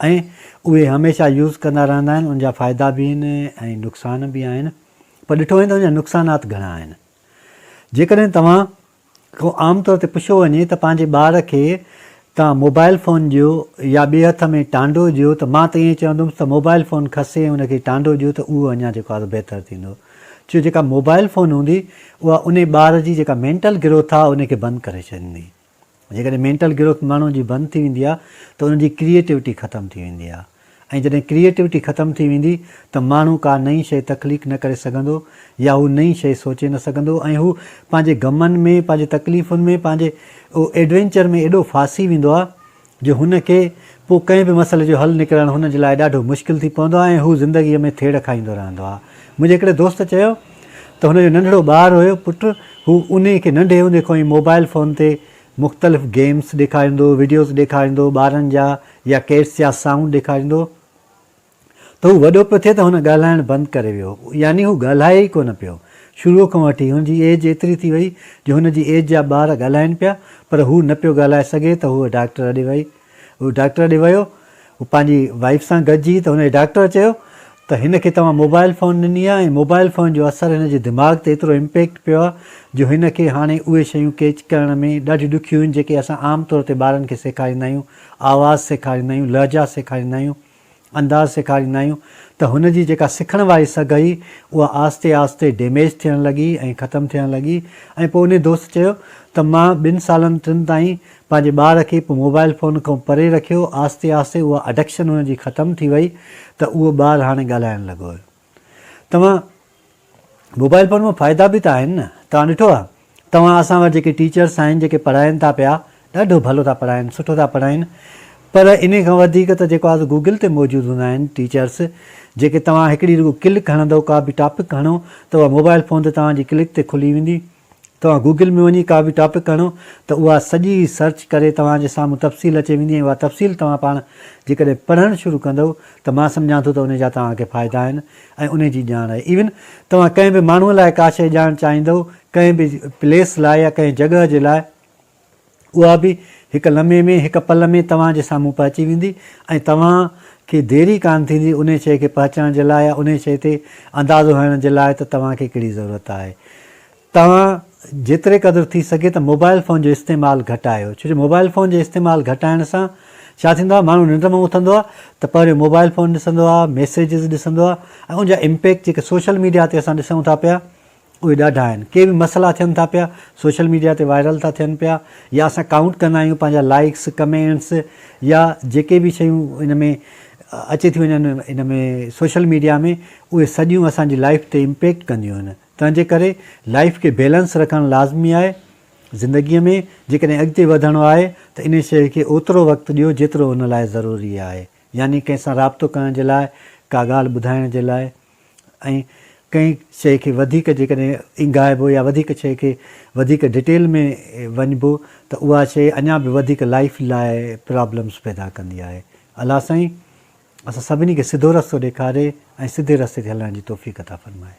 ۽ اهي هميشه يوز ڪندا رهندا آهن ان جا فائدا به آهن ۽ نقصان به آهن پر ڏٺو وڃي ته ان جا نقصانات گهڻا آهن جيڪڏهن توهان کان عام طور تي پڇيو وڃي ته پنهنجي ٻار کي توهان موبائل فون ڏيو يا ٻئي هٿ ۾ ٽانڊو ڏيو ته مان ته ائين چوندومس ته موبائل فون کسي ان کي ٽانڊو ڏيو ته اهو اڃا جيڪو آهي بهتر ٿيندو ڇو جيڪا موبائل فون هوندي اها انهي ٻار جي جيڪا مينٽل گروٿ آهي ان کي بند ڪري ڇڏيندي جيڪڏهن مينٽل گروٿ ماڻهو جي بند ٿي ويندي آهي ته ان جي ڪريئيٽوٽي ختم ٿي ويندي آهي ۽ جڏهن ڪريئيٽوٽي ختم ٿي ويندي ته ماڻهو ڪا نئين شيء تخليق نه ڪري سگهندو يا هو نئين شيء سوچي نه سگهندو ۽ هو پنهنجي غمن ۾ پنهنجي تڪليفن ۾ پنهنجي ايڊوينچر ۾ ايڏو ڦاسي ويندو آهي جو هن کي پوء ڪنهن به مسئلي جو حل نڪرڻ هن جي لاء ڏاڍو مشڪل ٿي پوندو آهي ۽ هو زندگيء ۾ ٿيڙ کائيندو رهندو آهي. منهنجي هڪڙي دوست چيو ته هن جو ننڍڙو ٻار هيو پٽ، هو انهي کي ننڍي هوندي کان ئي موبائيل فون تي مختلف گيمز ڏيکاريندو، وڊيوز ڏيکاريندو، ٻارن جا يا ڪيٽس جا سائونڊ ڏيکاريندو هو. ته هو وڏو پيو ٿئي ته هن ڳالهائڻ بند ڪري ويو، يعني هو ڳالهائي ئي ڪونه پيو. شروع کان وٺي، هن جي ايج ايتري ٿي وئي جو هن جي ايج جا ٻار ڳالهائين پيا، پر هو نه پيو ڳالهائي سگهي ته هو ڊاڪٽر ڏي وئي. هو ڊاڪٽر ڏي ويو، هو پنهنجي وائيف سان گڏجي ته هن جي ڊاڪٽر چيو ته هن کي توهان موبائل فون ڏني آهي ۽ موبائل فون جو اثر هن جي دماغ تي ايترو امپيڪٽ پيو آهي جو هن کي هاڻي اهي شيون ڪيچ ڪرڻ ۾ ڏاڍيون ڏکيون آهن جيڪي اسان عام طور تي ٻارن کي سيکاريندا آهيون، آواز سيکاريندا آهيون، لهجا سيکاريندا آهيون. انداز سيکاريندا آهيون ته هن جي جيڪا سکڻ واري سگهه هئي اها آهستي آهستي ڊيميج ٿيڻ لڳي ۽ ختم ٿيڻ لڳي ۽ پوء انهي دوست چيو ته مان ٻن سالن ٽن تائين پنهنجي ٻار کي پوء موبائل فون کان پري رکيو آهستي آهستي اها اڊڪشن هن جي ختم ٿي وئي ته اهو ٻار هاڻي ڳالهائڻ لڳو هيو. توهان موبائل فون مان فائدا به ته آهن نه توهان ڏٺو آ توهان اسان وٽ جيڪي ٽيچرس آهن جيڪي پڙهائين ٿا پيا ڏاڍو ڀلو ٿا پڙهائين سٺو ٿا پڙهائين پر انهي کان وڌيڪ ته جيڪو آ گوگل تي موجود هوندا آهن ٽيچرس جيڪي توهان هڪڙي رڳو ڪلڪ هڻندو ڪا به ٽاپڪ هڻو ته اها موبائل فون تي توهان جي ڪلڪ تي کلي ويندي توهان گوگل ۾ وڃي ڪا به ٽاپڪ هڻو ته اها سڄي سرچ ڪري توهان جي سامهون تفصيل اچي ويندي ۽ اها تفصيل توهان پاڻ جيڪڏهن پڙهڻ شروع ڪندؤ ته مان سمجهان ٿو ته ان جا توهان کي فائدا آهن ۽ ان جي ڄاڻ آهي ايون توهان ڪنهن به ماڻهو لاء ڪا شيء ڄاڻڻ چاهيندؤ ڪنهن به پليس لاء يا ڪنهن جڳهه جي لاء اها به هڪ لمحي ۾ هڪ پل ۾ توهان جي سامهون پهچي ويندي ۽ توهان کي دير ئي ڪانه ٿيندي انهي شيء کي پهچڻ جي لاء يا انهي شيء تي اندازو هڻڻ جي لاء ته توهان کي ڪهڙي ضرورت آهي. توهان جيتري قدر ٿي سگهي ته موبائل فون جو استعمال گهٽايو ڇو جو موبائل فون جي استعمال گهٽائڻ سان ڇا ٿيندو آهي ماڻهو ننڊ مان اٿندو آهي ته پهريون موبائل فون ڏسندو آهي ميسيجز ڏسندو آهي ۽ ان جا امپيڪٽ جيڪي سوشل ميڊيا تي اسان ڏسون ٿا پيا اهي ڏاڍا آهن. ڪي به مسئلا ٿين ٿا پيا، سوشل ميڊيا تي وائرل ٿا ٿين پيا يا اسان ڪائونٽ ڪندا آهيون پنهنجا لائيڪس، ڪمينٽس يا جيڪي به شيون ان ۾ اچي ٿيون وڃن ان ۾ سوشل ميڊيا ۾ اهي سڄيون اسان جي لائيف تي امپيڪٽ ڪنديون آهن. تنهن جي ڪري لائيف کي بيلنس رکڻ لازمي آهي. زندگي ۾ جيڪڏهن اڳتي وڌڻو آهي ته انهي شيء کي اوترو وقت ڏيو جيترو ان لاء ضروري آهي يعني ڪنهن سان رابطو ڪرڻ جي لاء، ڪا ڳالهه ٻڌائڻ جي لاء، ۽ ڪنهن شيء کي وڌيڪ جيڪڏهن اينگهائبو يا وڌيڪ شيء کي وڌيڪ ڊيٽيل ۾ وڃبو ته اها شيء اڃا به وڌيڪ لائيف لاء پرابلمز پيدا ڪندي آهي. الله سائين اسان سڀني کي سڌو رستو ڏيکاري ۽ سڌي رستي تي هلڻ جي توفيق عطا فرمائي.